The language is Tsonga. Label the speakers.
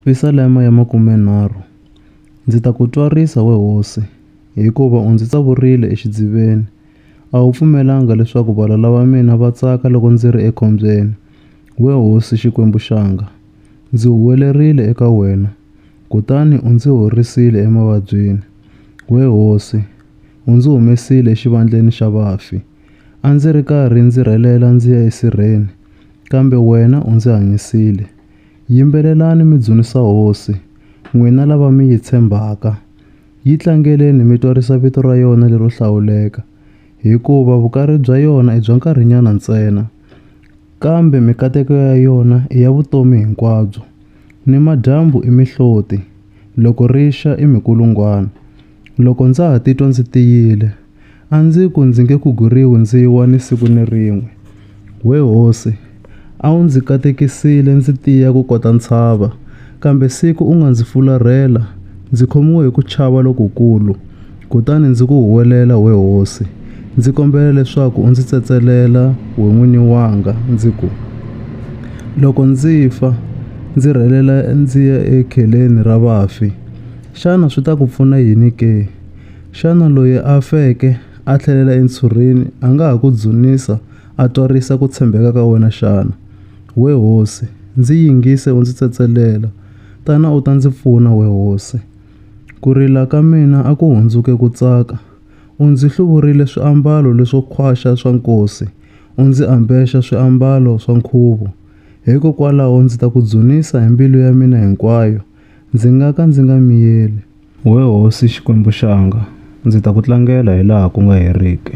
Speaker 1: Yerusalema ya Makumenharhu, ndzi ta ku twarisa, we hosi, hikuva u ndzi tsavurile exidziveni. A wu pfumelanga leswaku valala va mina va tsaka loko ndzi ri ekhombyeni, we hosi Xikwembu xanga. Ndzi huwelerile eka wena, kutani u ndzi horisile emavabyini. We hosi, u ndzi humesile exivandleni xa vafi. A ndzi ri karhi ndzi rhelela ndzi ya esirheni, kambe wena u ndzi hanyisile. Yimbelelani mi dzunisa Hosi, n'wina lava mi yi tshembaka, yi tlangeleni mi twarisa vito ra yona lero hlawuleka, hikuva vukari bya yona i bya nkarhinyana ntsena, kambe mikateko ya yona i ya vutomi hinkwabyo. Nimadyambu i mihloti, loko ri xa i mikulungwana. Loko ndza ha titwa ndzi tiyile, a ndzi ku ndzi nge kuguriwi ndzi wa ni siku ni rin'we. We hosi, a wu ndzi katekisile ndzi tiya ku kota ntshava, kambe siku u nga ndzi fularhela, ndzi khomiwe hi ku chava lokukulu. Kutani ndzi ku huwelela, we hosi, ndzi kombela leswaku u ndzi tsetselela, we n'wini wanga, ndzi ku, Loko ndzi fa, ndzi rhelela ndzi ya ekheleni ra vafi. Xana swi ta ku pfuna yini ke? Xana loyi a feke a tlhelela entshurheni a nga ha ku dzunisa a twarisa ku tshembeka ka wena xana? We hosi, ndzi yingise u ndzi tsetselela, tana u ta ndzi pfuna, we hosi. Ku rila ka mina a ku hundzuke ku tsaka, u ndzi hluvurile swiambalo leswo khwaxa swa nkosi, u ndzi ambexa swiambalo swa nkhuvo. Hikokwalaho ndzi ta ku dzunisa hi mbilu ya mina hinkwayo, Ndzi nga ka ndzi nga miyeli. Wee Hosi Xikwembu xanga, ndzi ta ku tlangela hilaha ku nga heriki.